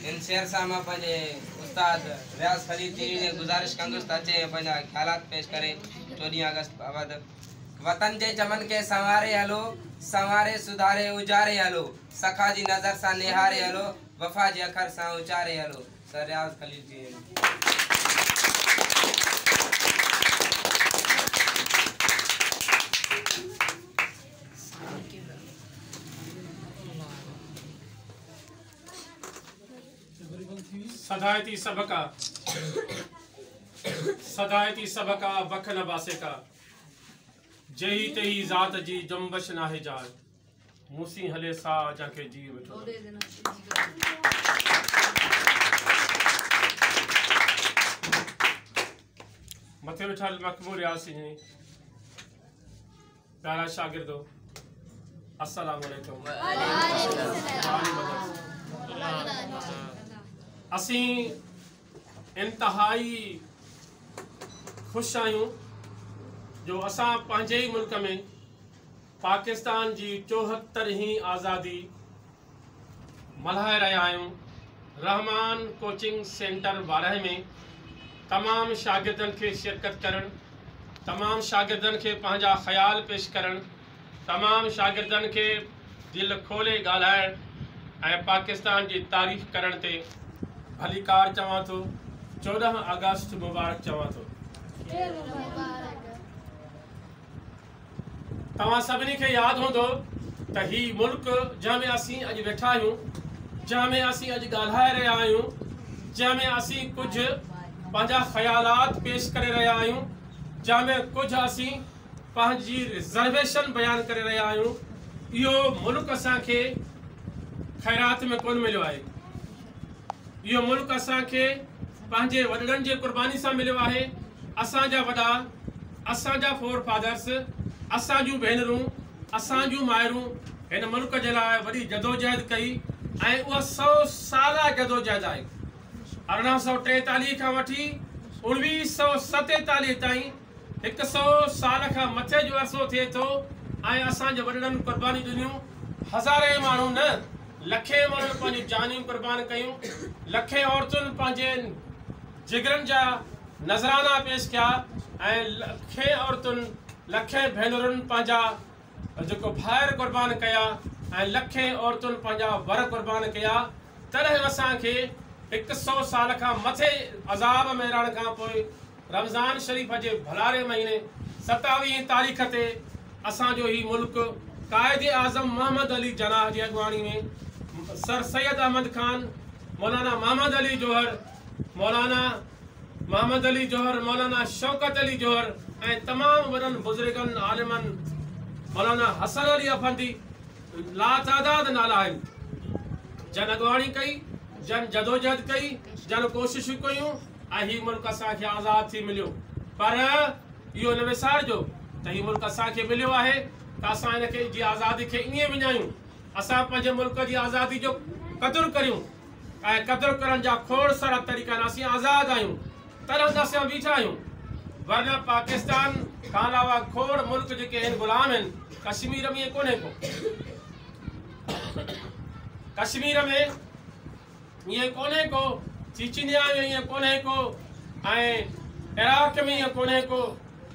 هن شعر سان مان پنهنجي استاد رياض خليل جيئي جي گذارش ڪندس ته اچي ۽ پنهنجا خيالات پيش ڪري چوڏهين آگسٽ بابت. وطن جي چمن کي سنواري هلو، سنواري سڌاري اجاري هلو، سخا جي نظر سان نهاري هلو، وفا جي اکر سان اچاري هلو، سر رياض خليل جيئي. سدائتي سڀ ڪا سدائتي سڀ ڪا بک نه باسي ڪا جهي تهي ذات جي جنبش ناهي جاء مون سين هلي سا جنهن کي جيء وٺو مٿي ويٺل مقبول ياسين پيارا شاگردو السلام عليڪم اسين انتهائي خوش آهيون جو اسان پنهنجي ئي ملڪ ۾ پاڪستان جي چوهتر هين آزادي ملهائي رهيا آهيون رحمان ڪوچنگ سينٽر وارهه ۾ تمام شاگردن کي شرڪت ڪرڻ تمام شاگردن کي پنهنجا خيال پيش ڪرڻ تمام شاگردن کي دل کولي ڳالهائڻ ۽ پاڪستان جي تعريف ڪرڻ تي ڀليڪار چوان ٿو چوڏهن آگسٽ مبارڪ چوان ٿو. توهان سڀني کي ياد هوندو ته هي ملڪ جنهن ۾ اسين اڄ ويٺا آهيون، جنهن ۾ اسين اڄ ڳالهائي رهيا آهيون، جنهن ۾ اسين ڪجهه پنهنجا خيالات پيش ڪري رهيا آهيون، جنهن ۾ ڪجهه اسين پنهنجي رزرويشن بيان ڪري رهيا آهيون، اهو ملڪ اسان کي خيرات ۾ ڪونه مليو آهي. اهو ملڪ اسان کي پنهنجي وڏڙن جي قرباني سان مليو آهي. اسان جا وڏا اسان جا فور فادرس، اسان جون ڀينرون، اسان جون مائرون هن ملڪ جي لاء وڏي جدوجهد ڪئي ۽ اها سئو سالا جدوجهد آهي. ارڙهن سئو ٽيتاليهه کان وٺي اوڻويهه سئو ستيتاليهه تائين هڪ سئو سال کان مٿي جو عرصو ٿئي ٿو ۽ اسان جي وڏڙن قربانيون ڏنيون، هزارين ماڻهن نه لکين ماڻهن پنهنجون جانيون قربان ڪيون، لکين عورتن پنهنجي. جگرن جا نذرانا پيش ڪيا ۽ لکين عورتن لکين ڀينرن پنهنجا جيڪو ڀائر قربان ڪيا ۽ لکين عورتن پنهنجا ور قربان ڪيا تڏهن اسان کي هڪ سو سال کان مٿي عذاب ۾ رهڻ کان پوء رمضان شريف جي ڀلاري مهيني ستاويهين تاريخ تي اسان جو هي ملڪ قائد اعظم محمد علي جناح جي اڳواڻي ۾ سر سيد احمد خان مولانا محمد علي جوهر مولانا محمد علي جوهر، مولانا شوڪت علي جوهر ۽ تمام وڏن بزرگن، عالمن، مولانا حسن علي افندي لاتعداد نالا آهن، جن اڳواڻي ڪئي، جن جدوجهد ڪئي، جن ڪوششون ڪيون ۽ هي ملڪ اسان کي آزاد ٿي مليو پر اهو نه وسارجو ته هي ملڪ اسان کي مليو آهي ته اسان ان کي جي آزادي کي ائين وڃايون، اسان پنهنجي ملڪ جي آزادي جو قدر ڪريون. ۽ قدر ڪرڻ جا کوڙ سارا طريقا آهن، اسين آزاد آهيون تڏهن ته اسين ويٺا آهيون، ورنه پاڪستان کان علاوه کوڙ ملڪ جيڪي آهن غلام آهن، ڪشمير ۾ ائين ڪونهي ڪو، ڪشمير ۾ ائين ڪونهي ڪو، چيچنيا ۾ ائين ڪونهي ڪو ۽ عراق ۾ ائين ڪونهي ڪو.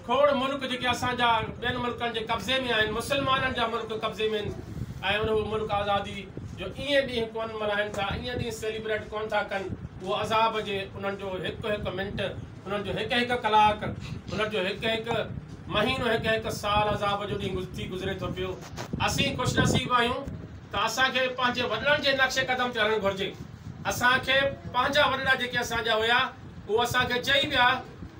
کوڙ ملڪ جيڪي اسان جا ٻين ملڪن جي قبضي ۾ آهن مسلمانن جا ملڪ قبضي ۾ آهن ۽ اهي ملڪ آزادي جو ايئن ڏينهن ڪونه ملهائن ٿا ايئن ڏينهن سيليبريٽ ڪونه ٿا ڪن اهو عذاب جي انهن جو هڪ هڪ منٽ انهن جو هڪ هڪ ڪلاڪ انهن جو هڪ هڪ مهينو هڪ هڪ سال عذاب جو ڏينهن ٿي گذري ٿو پيو اسين خوش نصيب آهيون ته اسان کي پنهنجي وڏڙن جي نقش قدم تي هلڻ گهرجي اسان کي پنهنجا وڏڙا جيڪي اسان جا هيا هو اسان کي چئي ويا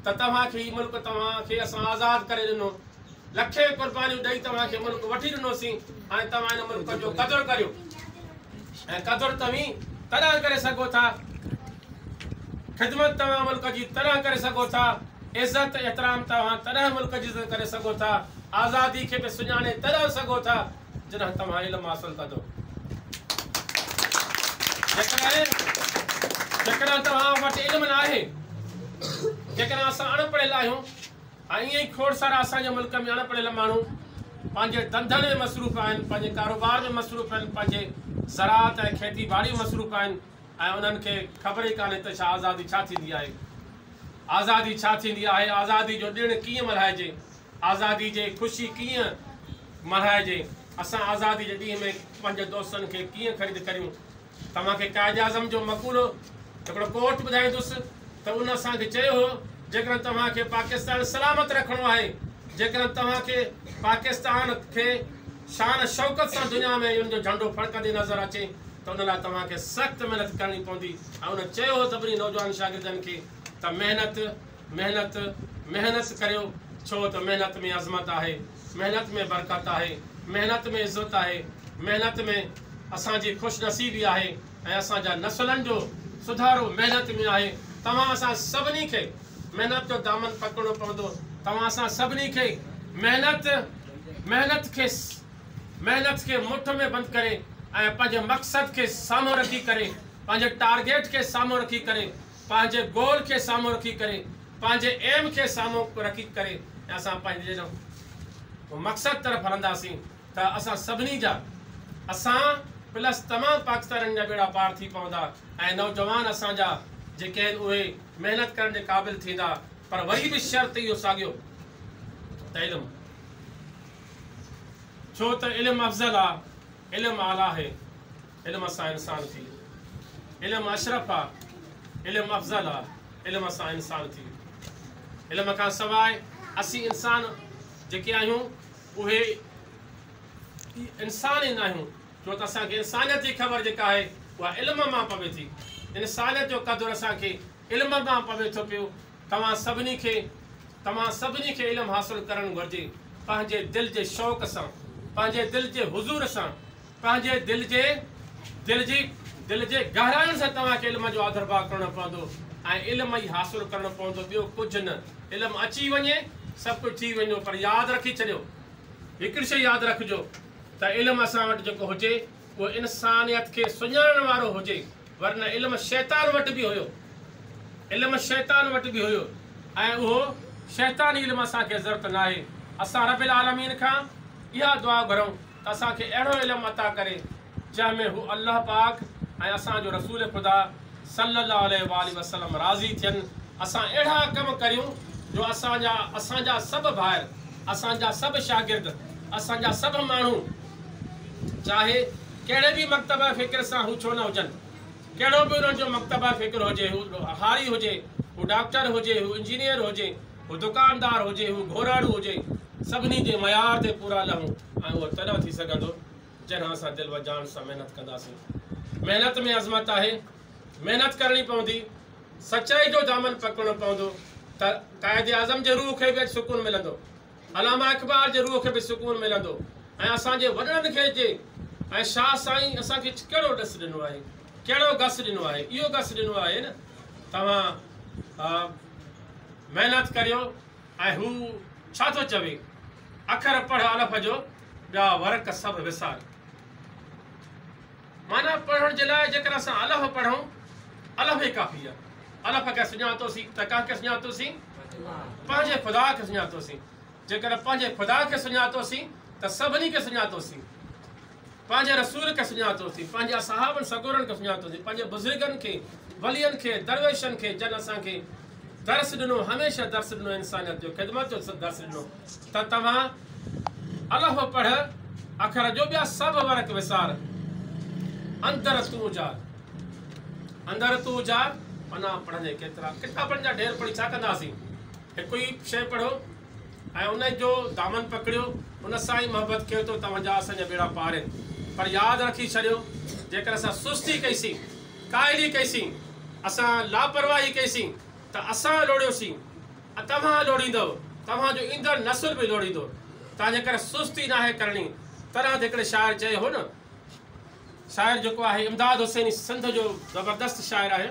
ته توهان کي هي ملڪ توهان کي اسان آزاد ڪري ڏنو. لکين قربانيون ڏئي توهان کي ملڪ وٺي ڏنوسين. هاڻي توهان هن ملڪ جو قدر ڪريو ۽ قدر توهين تڏهن ڪري سگهو ٿا، خدمت توهان ملڪ جي تڏهن ڪري سگهو ٿا، عزت احترام توهان تڏهن ملڪ جي عزت ڪري سگهو ٿا، آزادي کي به سڃاڻي تڏهن سگهو ٿا جڏهن توهان علم حاصل ڪندو. جيڪڏهن جيڪڏهن توهان وٽ علم ناهي، جيڪڏهن اسان اڻ پڙهيل آهيون ۽ ائين ئي کوڙ سارا اسان جي ملڪ ۾ اڻ پڙهيل ماڻهو پنهنجي ڌنڌن ۾ مصروف آهن، پنهنجي ڪاروبار ۾ مصروف آهن، پنهنجي زراعت ۽ کيتي ٻاڙي ۾ مصروف آهن ۽ انهن کي خبر ئي ڪانهي ته ڇا آزادي ڇا ٿيندي آهي؟ آزادي ڇا ٿيندي آهي؟ آزادي جو ڏڻ ڪيئن ملهائجي؟ آزادي جي خوشي ڪيئن ملهائجي؟ اسان آزادي جي ڏينهن ۾ پنهنجي دوستن کي ڪيئن خريد ڪريون؟ توهان کي قائداعظم جو مقولو هڪڙو ڪوٽ ٻڌائيندس ته ان اسان کي چيو هو جيڪڏهن توهان کي پاڪستان سلامت رکڻو آهي، جيڪڏهن توهان کي پاڪستان کي شان شوڪت سان دنيا ۾ ان جو جهنڊو ڦڙڪندي نظر اچي ته ان لاء توهان کي سخت محنت ڪرڻي پوندي ۽ ان چيو هو سڀني نوجوان شاگردن کي ته محنت محنت، مهنس ڪريو، ڇو ته محنت ۾ عظمت آهي، محنت ۾ برڪت آهي، محنت ۾ عزت آهي، محنت ۾ اسان جي خوش نصيبي آهي ۽ اسان جا نسلن جو سڌارو محنت ۾ آهي، توهان اسان سڀني کي محنت جو دامن پڪڙڻو پوندو، توهان اسان سڀني کي محنت، محنت کي محنت کي مٺ ۾ بند ڪري ۽ پنهنجي مقصد کي سامهون رکي ڪري، پنهنجي ٽارگيٽ کي سامهون رکي ڪري، پنهنجي گول کي سامهون رکي ڪري پنهنجي ايم کي سامهون رکي ڪري اسان پنهنجي مقصد طرف هلنداسين ته اسان سڀني جا اسان پلس تمام پاڪستانين جا ٻيڙا پار ٿي پوندا ۽ نوجوان اسان جا جيڪي آهن اهي محنت ڪرڻ جي قابل ٿيندا پر وري به شرط اهو ساڳيو ته علم ڇو ته علم افضل آ علم اعليٰ آهي علم اسان انسان ٿي. علم اشرف آ، علم افضل آ، علم اسان انسان ٿي. علم کان سواء اسين انسان جيڪي آهيون اهي انسان ئي ناهيون ڇو ته اسان کي انسانيت جي خبر جيڪا آهي اها علم مان پوي ٿي. انسانيت جو قدر اسان کي علم مان پوي ٿو پيو. توهان سڀني کي توهان سڀني کي علم حاصل ڪرڻ گهرجي پنهنجي دل جي شوق سان پنهنجي دل جي حضور سان. پنهنجي دل جي دل جي دل جي گهراين سان توهان کي علم جو آڌرڀاء ڪرڻو پوندو ۽ علم ئي حاصل ڪرڻو پوندو ٻيو ڪجهه نه علم اچي وڃي سڀ ڪجهه ٿي ويندو پر ياد رکي ڇڏيو هڪڙي شئي ياد رکجو ته علم اسان وٽ جيڪو هجي اهو انسانيت کي سڃاڻڻ وارو هجي ورنه علم شيطان وٽ به هيو علم شيطان وٽ به هيو ۽ اهو شيطاني علم اسان کي ضرورت ناهي اسان رب العالمين کان اها دعا گهرون ته اسان کي اهڙو علم عطا ڪري جنهن ۾ هو الله پاڪ ۽ اسان جو رسول خدا صلّي اللّٰه عليه واٰله وسلّم راضي ٿين اسان اهڙا ڪم ڪريون جو اسان جا اسان جا سڀ ڀائر اسان جا سڀ شاگرد اسان جا سڀ ماڻهو چاهي ڪهڙي به مڪتبه فڪر سان هو ڇو نه هجن ڪهڙو به انهن جو مڪتبه فڪر هجي هو هاري هجي هو ڊاڪٽر هجي هو انجنيئر هجي هو دڪاندار هجي، هو گهراڻو هجي، سڀني جي معيار تي پورا لهون ۽ اهو تڏهن ٿي سگهندو، جڏهن اسان دل و جان سان محنت ڪنداسين. محنت ۾ عظمت آهي. محنت ڪرڻي پوندي. سچائي جو دامن پڪڙڻو پوندو ته قائداعظم جي روح کي به اڄ سڪون ملندو. علامه اقبال جي روح کي به سڪون ملندو ۽ اسان جي وڏڙن کي جي ۽ شاهه سائين اسان کي ڪهڙو ڏس ڏنو آهي، ڪهڙو گس ڏنو آهي، اهو گس ڏنو آهي نه توهان محنت ڪريو ۽ هو ڇا ٿو چوي، اکر پڙهه الف جو، ٻيا ورق سڀ وسار. معنيٰ پڙهڻ جي لاء جيڪر اسان الف پڙهون، الف ئي ڪافي آهي. الف کي سڃاتوسين ته ڪنهن کي سڃاتوسين؟ پنهنجي خدا کي سڃاتوسين. جيڪر پنهنجي خدا کي سڃاتوسين ته سڀني کي سڃاتوسين. پنهنجي رسول کي سڃاتو ٿي، پنهنجي اصحابن سڳورن کي سڃاتو ٿي، پنهنجي بزرگن کي، ولين کي، درويشن کي، جن اسان کي درس ڏنو، هميشه درس ڏنو، انسانيت جو خدمت جو درس ڏنو ته توهان الف پڙهه اکر جو ٻيا سڀ ورق وسار اندر تون اجار اندر تون اجار پنا پڙهندي ڪيترا ڪتابن جا ڍير پڙهي ڇا ڪنداسين هڪ ئي شيء پڙهو ۽ ان جو دامن پڪڙيو، ان سان ئي محبت ڪيو ته توهان جا اسان جا ٻيڙا پار آهن. پر ياد رکي ڇڏيو، جيڪر اسان سستي ڪئي سين، ڪاهلي ڪئي سين، اسان لاپرواهي ڪئي سين ته اسان لوڙهيو سين، توهان لوڙهيندؤ، توهان جو ايندڙ نسل به لوڙهيندو، تنهن جي ڪري سستي ناهي ڪرڻي. تنهن تي هڪڙي شاعر چيو هو نه، شاعر جيڪو آهي امداد حسيني سنڌ جو زبردست شاعر آهي،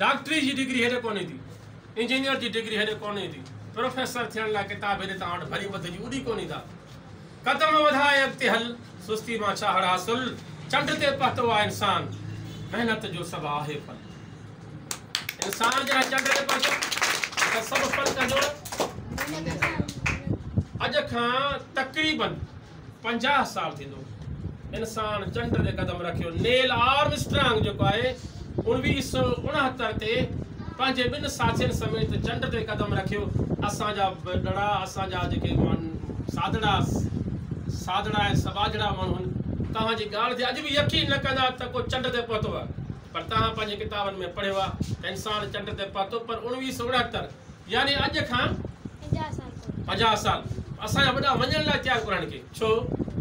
ڊاڪٽري جي ڊگري هيڏي ڪونهي ٿي، انجنيئر جي ڊگري هيڏي ڪونهي ٿي، پروفيسر ٿيڻ لاء ڪتاب هيڏي توهان وٽ ڀري ٻڌجي اڏي ڪونهي ٿا. قدم وڌائي اڳتي هل، سستي مان ڇا هڙ حاصل، چنڊ تي پهتو آ انسان، محنت جو سڀ آهي ڦل. انسان جڏهن چنڊ تي پهتو ته سڀ ڦل ڪندو. اڄ کان تقريبن پنجاهه سال ٿيندو انسان چنڊ تي قدم رکيو. نيل آرم اسٽرانگ جيڪو آهي اوڻويهه سؤ اڻهتر تي پنهنجي ٻن ساٿين سميت چنڊ تي قدم رکيو. اسان جا وڏڙا اسان جا جيڪي سادڙا سادڙا ۽ سٻاجهڙا ماڻهو آهن توهان جي ڳالهه تي اڄ به يقين نه ڪندا ته ڪو چنڊ تي پهتو آهي پر توهان پنهنجي ڪتابن ۾ پڙهيو آهي ته انسان چنڊ تي پهتو پر اڻويهه سؤ اڻهتر يعني اڄ کان پنجاهه سال اسان جا وڏا مڃڻ لاء تيار ڪونه آهن ڪي ڇو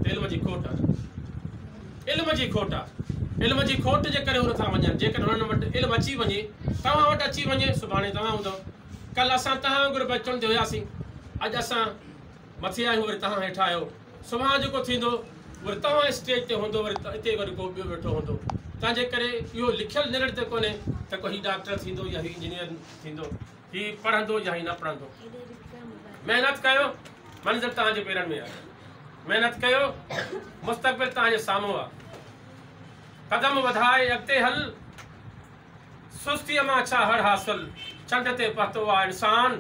ته علم جي کوٽ آهي علم جي کوٽ آهي علم جي کوٽ جي ڪري هو نٿا مڃن جيڪڏهن هنن وٽ علم اچي وڃي توهان وٽ اچي وڃي سڀاڻي توهان هوندو ڪل اسان توهان وانگر به چونڊ تي هياسين اڄ اسان مٿي آهيون وري توهان هيٺ آهيو سڀان جيڪو ٿيندو وري توهان اسٽيج تي هوندو وري اتي وري ڪو ٻيو ويٺو هوندو تنهنجي ڪري اهو لکيل نرڙ تي ڪونهي ته ڪو هي ڊاڪٽر ٿيندو يا هي انجنيئر ٿيندو هي پڙهندو يا هي نه پڙهندو محنت ڪيو منزل توهان جي پيرن ۾ آهي محنت ڪيو مستقبل توهان جي سامهون آهي قدم وڌائي اڳتي هل سستي مان ڇا هڙ حاصل چنڊ تي پهتو آهي انسان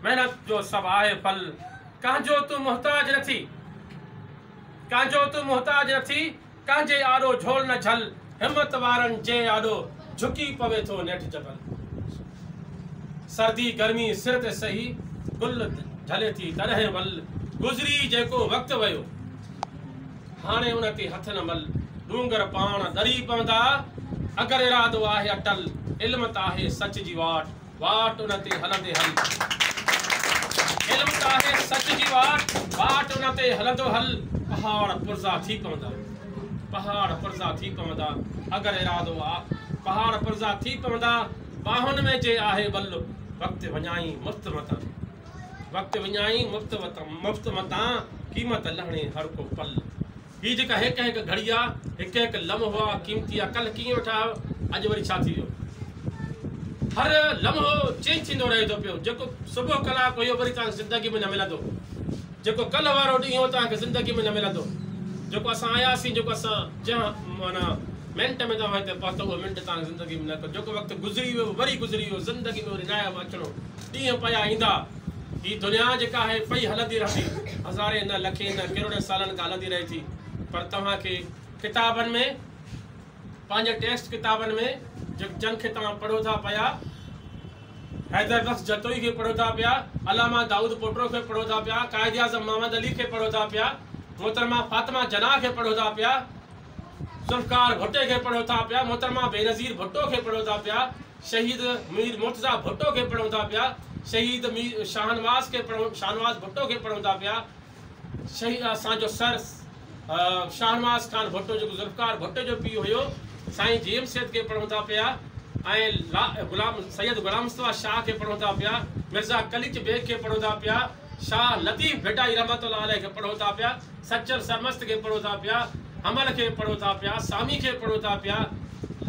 محنت جو سڀ آهي ڦل ڪنهن جو تون محتاج نه ٿي ڪنهن جو تون محتاج نه ٿي ڪا جي آڏو جھول نه جھل، ھمت وارن جي آڏو جھڪي پوي ٿو نيٺ جبل. سردي گرمي سر تي سھي، گل ڍلي ٿي تڏھن ول. گذري جيڪو وقت ويو، ھاڻي ان تي ھٿ نه مل. ڏونگر پاڻ ڏري پوندا، اگر ارادو آھي اٽل. علم ته آھي سچ جي واٽ، واٽ ان تي هلندي هل. علم ته آهي سچ جي واٽ، واٽ ان تي هلندو هل. پهاڙ پرزا ٿي پوندا، پهاڙ پرزا ٿي پوندا، اگر ارادو آ. پهاڙ پرزا ٿي پوندا، ٻانهن ۾ جي آهي ٻل. وقت وڃائين مفت متان، وقت وڃائين مفت متان، قيمت لهڻي هر ڪو پل. هي جيڪا هڪ هڪ گهڙي آ، هڪ هڪ لمحو آ قيمتي آ، ڪلهه ڪيئن ويٺا آهيو، اڄ وري ڇا ٿي ويو. هر لمحو چينج ٿيندو رهي ٿو پيو، جيڪو صبح ڪلاڪ هيو وري توهان کي زندگي ۾ نه ملندو، جيڪو ڪلهه وارو ڏينهن هو توهان کي زندگي ۾ نه ملندو، جيڪو اسان آياسين، جيڪو اسان جنهن معنيٰ منٽ ۾ توهان هتي پهتا اهو منٽ توهان کي زندگي ۾ نه ڪو جيڪو وقت گذري ويو وري گذري ويو زندگي ۾ وري ناهي اهو اچڻو. ڏينهن پيا ايندا. هي دنيا جيڪا آهي پئي هلندي رهندي. هزارين نه لکين نه ڪروڙين سالن کان هلندي رهي ٿي. پر توهان کي ڪتابن ۾ پنهنجي ٽيڪسٽ ڪتابن ۾ جن کي توهان پڙهو ٿا پيا حيدر بخش جتوئي کي پڙهو ٿا پيا، علامه دائود پوٽرو کي پڙهو ٿا پيا، قائد اعظم محمد علي کي پڙهو ٿا پيا، محترمه فاطمه جناح کي پڙهو ٿا پيا، ذوالفقار ڀٽي کي پڙهو ٿا پيا، محترمه بينظير ڀٽو کي پڙهو ٿا پيا، شهيد مير مرتضيٰ ڀٽو کي پڙهو ٿا پيا، شهيد مير شاهنواز کي پڙهو شاهنواز ڀٽو کي پڙهو ٿا پيا، شهيد اسان جو سر شاهنواز خان ڀٽو جيڪو ذوالفقار ڀٽو جو پيء هيو سائين جي ايم سيد کي پڙهو ٿا پيا ۽ غلام سيد غلام مصطفيٰ شاهه کي پڙهو ٿا پيا، مرزا قليچ بيگ کي پڙهو ٿا پيا، شاهه لطيف ڀٽائي رحمة الله عليه کي پڙهو ٿا پيا، سچل سرمست کي پڙهو ٿا پيا، حمل کي پڙهو ٿا پيا، سامي کي پڙهو ٿا پيا،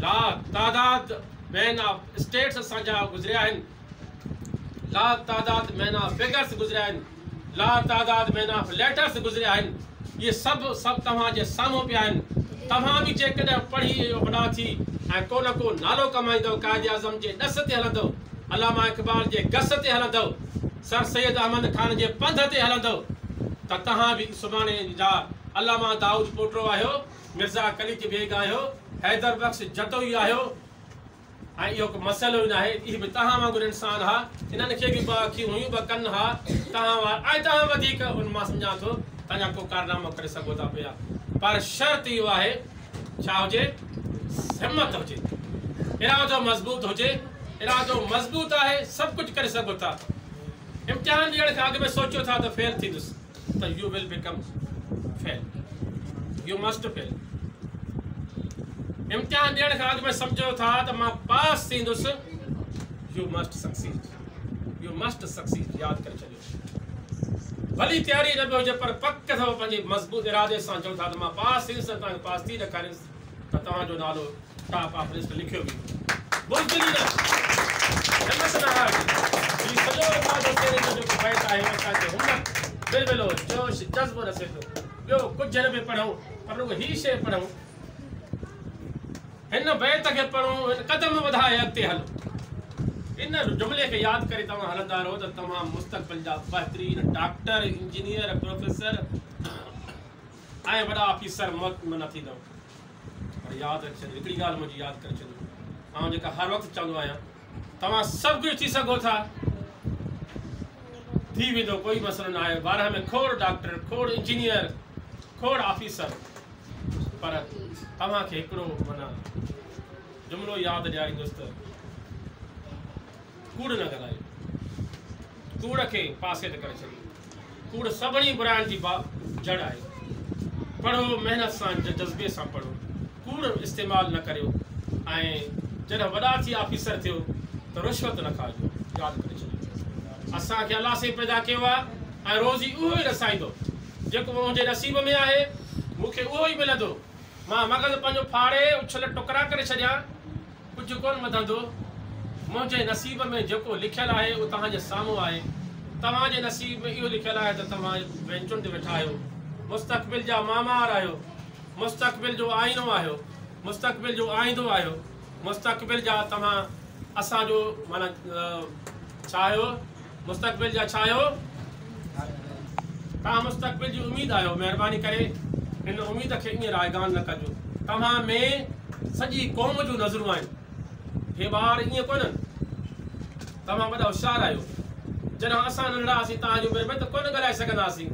لا تعداد مين آف اسٽيٽس اسان جا گذريا آهن، لا تعداد مين آف فگرس گذريا آهن، لا تعداد مين آف ليٽرس گذريا آهن، اهي سڀ سڀ توهان جي سامهون پيا آهن، توهان به جيڪڏهن پڙهي وڏا ٿي ۽ ڪو نه ڪو نالو ڪمائيندؤ، قائد اعظم جي ڏس تي هلندؤ، علامه اقبال جي گس تي هلندؤ. سر سيد احمد خان جي پنڌ تي هلندؤ ته توهان به سڀاڻي جا علامه دائود پوٽرو آهيو، مرزا قليچ بيگ آهيو، حيدر بخش جتوئي آهيو ۽ اهو ڪو مسئلو ئي ناهي، اهي به توهان وانگر انسان ها، انهن کي به ٻه اکيون هيون، ٻه ڪن ها، توهان وار ۽ توهان وڌيڪ ان مان سمجهان ٿو توهان جا ڪو ڪارنامو ڪري سگهو ٿا پيا پر شرط اهو آهي ڇا هجي؟ همت هجي، ارادو مضبوط هجي، ارادو مضبوط آهي سڀ ڪجهه ڪري سگهو ٿا، امتحان ڏيڻ کان اڳ ۾ سوچيو ٿا ته فيل ٿيندس ته you will become fail you must fail امتحان ڏيڻ کان اڳ ۾ سمجهو ٿا ته مان پاس ٿيندس you must succeed you must succeed ياد ڪري ڇڏيو ڀلي تياري نه به هجي پر پڪ ته اوهان پنهنجي مضبوط ارادي سان چئو ٿا ته مان پاس ٿيندس ۽ توهان کي پاس ٿي ڏيکاريندس ته توهان جو نالو ٽاپ آف لسٽ لکيو ويندو. بزدلي نه جنس نه هارجي. هي سڄو اندازو چهري جو جيڪو بيت آهي اهو اسان کي همت، ولولو، جوش، جذبو ڏسي ٿو. ٻيو ڪجهه نه پئي پڙهون پر رڳو هي شعر پڙهون. هن بيت کي پڙهو ۽ قدم وڌائي اڳتي هلو. ان جملي کي ياد ڪري توهان هلندا رهو ته توهان مستقبل جا بهترين ڊاڪٽر، انجنيئر، پروفيسر ۽ وڏا آفيسر نه ٿيندؤ پر ياد رکي ڇڏيو هڪڙي ڳالهه منهنجي ياد ڪري ڇڏيو آئون جيڪا هر وقت چوندو آهيان توهان سڀ ڪجهه ٿي سگهو ٿا. ٿي ويندو ڪوئي مسئلو نه آهي. بارهه ۾ کوڙ ڊاڪٽر، کوڙ انجنيئر، کوڙ آفيسر پر توهان کي هڪڙو معنيٰ جملو ياد ڏياريندس ته ڪوڙ نه ڳالهايو. ڪوڙ کي پاسي تي ڪري ڇڏيو. ڪوڙ سڀني براين جي با جڙ آهي. پڙهو محنت سان جذبي سان پڙهو ڪوڙ استعمال نه ڪريو ۽ جڏهن وڏا ٿي آفيسر ٿيو ته رشوت نه کاڄو ياد ڪري ڇڏيو اسان کي الله سائين پيدا ڪيو آهي ۽ روزي اهو ئي رسائيندو جيڪو منهنجي نصيب ۾ آهي مون کي اهو ئي ملندو مان مغز پنهنجو ڦاڙي اڇل ٽڪرا ڪري ڇڏيان ڪجهه ڪونه وڌندو. منهنجي نصيب ۾ جيڪو لکيل آهي اهو توهان جي سامهون آهي. توهان جي نصيب ۾ اهو لکيل آهي ته توهان بينچن تي ويٺا آهيو. مستقبل جا معمار آهيو. مستقبل جو آئينو آهيو. مستقبل جو آئيندو آهيو. مستقبل جا توهان اسان جو معنيٰ ڇا آهيو؟ مستقبل جا ڇا آهيو؟ توهان مستقبل جي اميد آهيو، مهرباني ڪري ان اميد کي ائين رائگان نه ڪجو. توهان ۾ سڄي قوم جون نظرون آهن. هي ٻار ائين ڪونهن. توهان وڏا هوشيار آهيو. جڏهن اسان ننڍڙا هئاسين توهان جي عمر ۾ ته ڪونه ڳالهائي سگهندا هئاسين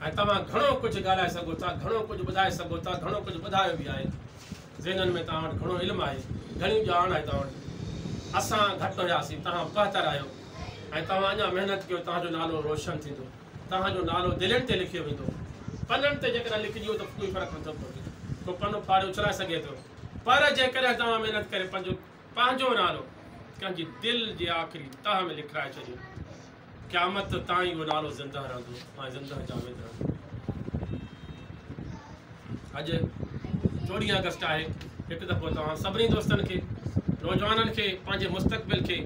۽ توهان گهڻو ڪجهه ڳالهائي سگهو ٿا، گهڻو ڪجهه ٻڌائي سگهو ٿا، گهڻو ڪجهه ٻڌايو به آهي. ذهنن ۾ توهان وٽ گهڻو علم آهي، گهڻي ڄاڻ آهي توهان وٽ. اسان گهٽ هياسين، توهان بهتر آهيو ۽ توهان اڃا محنت ڪيو، توهان جو نالو روشن ٿيندو. توهان جو نالو دلين تي لکيو ويندو. پنن تي جيڪڏهن لکجي ويو ته ڪوئي فرق نٿو پوي. ڪو پنو ڦاڙي اڇلائي سگهي ٿو. پر جيڪڏهن توهان محنت ڪري پنهنجو پنهنجو نالو ڪنهن جي دل جي آخري تهه ۾ لکرائي ڇڏيو. قيامت تائين اهو نالو زندهه رهندو ۽ زندهه جاويد رهندو. اڄ چوڏهين آگسٽ آهي، هڪ دفعو توهان سڀني دوستن کي، نوجوانن کي، پنهنجي مستقبل کي،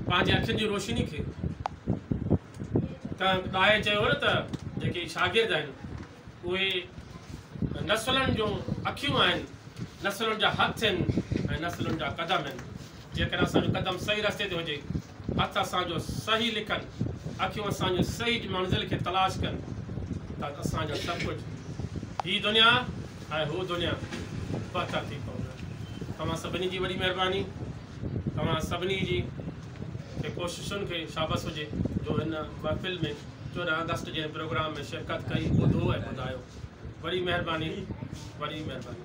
پنهنجي اکين جي روشني کي، ڪنهن ڏاهي چيو هو نه ته جيڪي شاگرد آهن اهي نسلن جون اکيون آهن، نسلن جا هٿ هن ۽ نسلن جا قدم هن. جيڪڏهن اسان جو قدم صحيح رستي تي هجي، هٿ اسان جو صحيح لکن، اکيون اسان جون صحيح منزل کي تلاش ڪن ته اسان جو سڀ ڪجهه، هي دنيا ۽ هو دنيا، بهتر ٿي پوندو. توهان سڀني جي وڏي مهرباني، توهان سڀني جي ڪوششن کي شابس هجي جو هن محفل ۾. چوڏهن آگسٽ جي پروگرام ۾ شرڪت ڪئي ٻڌو ۽ ٻڌايو وڏي مهرباني وڏي مهرباني